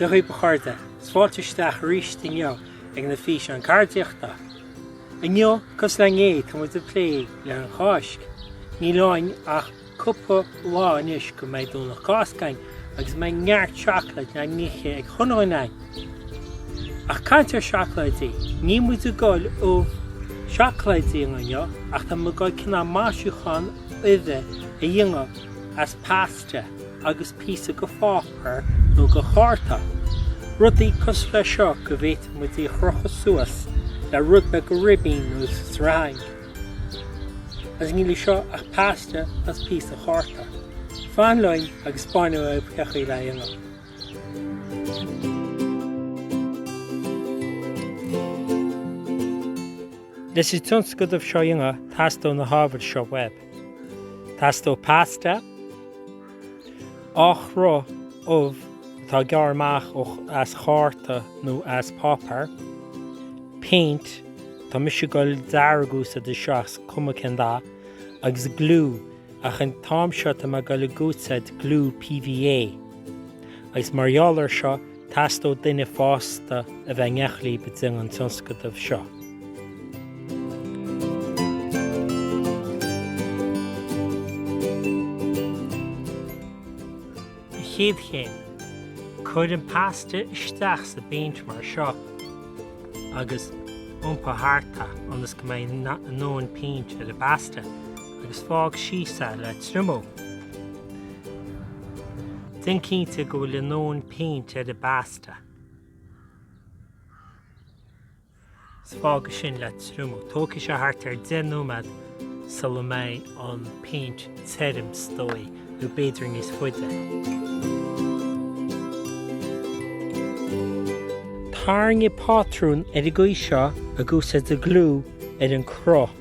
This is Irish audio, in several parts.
Dé chaoi bhfuil mo chairde 's fáilte isteach aríst inniu ag na físeáin ceardaíochta. Inniu, 's go sonrach, tá muid ag plé le an Cháisc. Níl ach cúpla lá anois go mbeidh Domhnach Cásca againn agus go mbeidh neart seacláid le n-ithe ag chuile dhuine againn. Ach caint ar seacláidí, níl muid ag gol ubh seacláide a dhéanamh inniu ach tá muid ag gol cineál maisiúchán uibhe a dhéanamh as pasta agus píosa go pháipéar nó go chárta. Rudaí cosúil le seo go bhféadfadh muid í a chrochadh suas le rud beag go ribín nó sreang. Agus níl i seo ach pasta is píosa cárta. Fan liom agus spáinfidh mé duit cé chaoi lena dhéanamh. Leis an tionscnamh seo a dhéanamh teastóidh na hábhair seo uaibh. Teastóidh pasta. Cruth ubh atá gearrtha amach as cárta nó as páipéar. Péint, tá mise ag gol dearg a úsáid ach is cuma cén dath, agus gliú, ach an t-am seo tá mé ag gol ag úsáid gliú PVA. Agus mar gheall air seo, Teastóidh duine fásta a bheith in éineacht libh i dtaobh an tionscnamh seo. Chéad chéim, Cuir an pasta isteach sa bpéint mar seo agus iompaigh thart é ionas go mbeidh a ndóthain péint ar an bpasta agus fág síos é le triomú. Déan cinnte go bhfuil a ndóthain péint ar an bpasta is fág é sin le triomú. Tógfaidh sé thart ar 10 nóiméad sula mbeidh an péint tirim is dóigh, nó b'fhéidir níos faide. Tarraingigh pátrún ar an gcaoi seo ag úsáid an gliú ar an gcruth.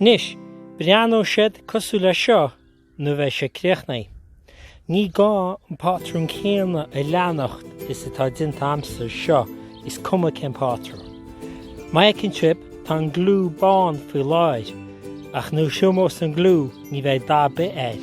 Anois, breathnóidh siad cosúil leis seo nuair a bheidh siad críochnaithe. Ní gá an pátrún céanna a leanacht is atá déanta a'msa anseo, is cuma cén pátrún. Má fheiceann sibh, tá an gliú bán faoi láir, ach nuair a thriomós an gliú ní bheidh dath 'bith air.